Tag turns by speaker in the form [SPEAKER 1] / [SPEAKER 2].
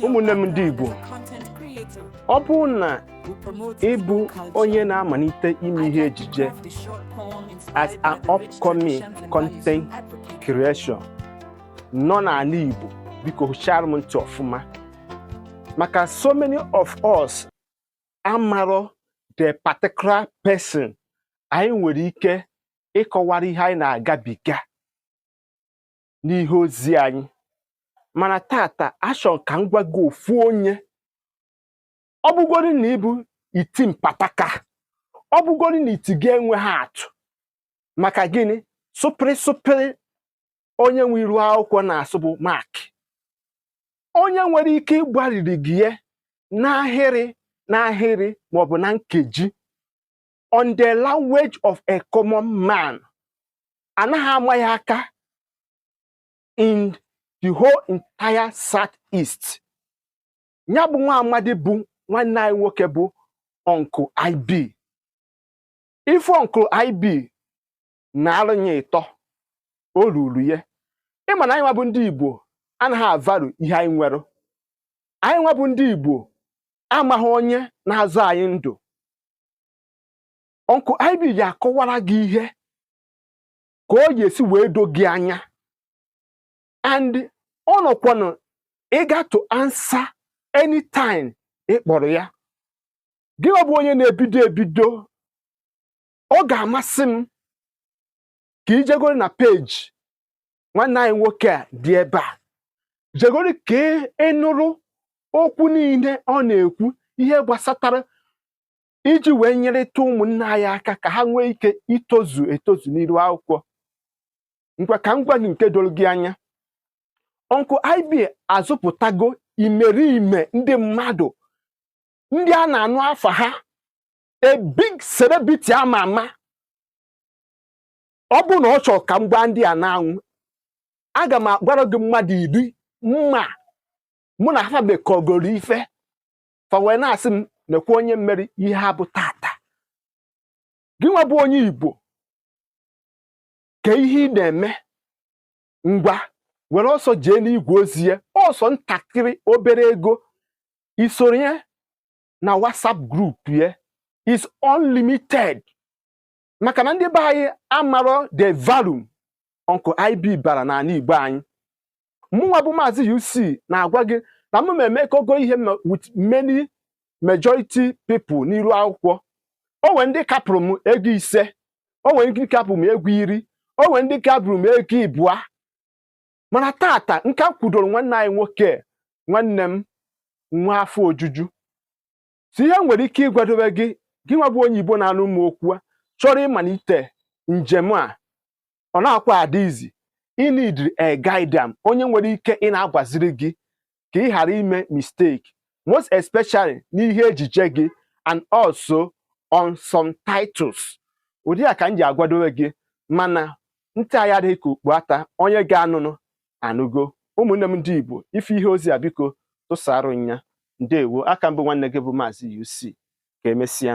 [SPEAKER 1] ụmụnne m ndị Igbo ọ bụrụ na ị bụ onye na-amalite ime ihe ejije as an upcoming content creation nọ n'ala Igbo biko hụchara m ntị ọfụma maka so many of us amarọ the particular person anyị nwere ike ịkọwara ihe anyị na-agabiga n'ihe ozi anyị mana tata achọ m ka m gwa gị ofu onye ọ bụgoro na ị bụ iti mpataka ọ bụgoro na iti gị enweghị atụ maka gịnị sụpịrị sụpịrị onye nwe iru akwụkwọ na-asụ bụ Mark onye nwere ike ịgbariri gị ya n'ahịrị n'ahịrị maọbụ na nkeji on the language of a common man anaghị ama ya aka in the whole entire south east ya bụ nwa amadi bụ nwanne anyị nwoke bụ Uncle IB ife Uncle IB na-arụ nye ya ito o ruru ya ị ma na anyị nwa bụ ndị igbo anaghị avalue ihe anyị nwere anyị nwa bụ ndị igbo amaghị onye na-azọ anyị ndụ Uncle IB ya-akọwara gị ihe ka ọ ga-esi wee do gị anya and ọ nọkwanụ eager to answer anytime ị kpọrọ ya gị nwa bụ onye na-ebido ebido ọ ga-amasị m ka i jegoro na peji nwanne anyị nwoke a dị ebe a jegoro ka ị nụrụ okwu niile ọ na-ekwu ihe gbasatara iji wee nyerịta ụmụnna anyị aka ka ha nwee ike itozu etozu n'iru akwụkwọ ngwa ka m gwa gị nke doro gị anya Uncle IB azụpụtago imerime ndị mmadụ ndị a na-anụ afa ha a big celebrity ama ama ọ bụrụ na ọ chọrọ ka m gbaa ndị a n'anwụ aga m agwara gị mmadụ iri m ma mụ na ha mekọgoro ife fa wee na-asị m nekwa onye mere ihe ha bụ tata gị nwa bụ onye Igbo kee ihe ị na-eme ngwa were ọsọ jee n'igwe ozi ya ọ sọ ntakịrị obere ego i soro ya na WhatsApp group ya is unlimited maka na ndị be anyị amarọ the value Uncle IB bara n'ala Igbo anyị mụnwa bụ maazị UC na-agwa gị na mụ emekọgo ihe with many majority people n'iru akwụkwọ o nwere ndị kapụrụ m ego ise o nwere ndị kapụrụ m ego iri o nwere ndị kapụrụ m ego ịbụa mana tata nke m kwudoro nwanne anyị nwoke nwanne m nwa afọ ojuju si ihe nwere ike ịgwadobe gị gị nwa bụ onye Igbo na-anụ m okwu a chọrọ ịmalite njem a ọ na-akwa adị easy ị needịrị a guide onye nwere ike ị na-agbaziri gị ka ị ghara ime mistake most especially n'ihe ejije gị and also on some titles ụdị a ka m ji agwadowe gị mana ntị anyị adịghị ka okpu ata onye ga-anụnụ anụgo ụmụnne m ndị Igbo ị fụ ihe ozi a biko tụsarụ nya ndewo a ka m bụ nwanne gị bụ Maazị UC ka emesịa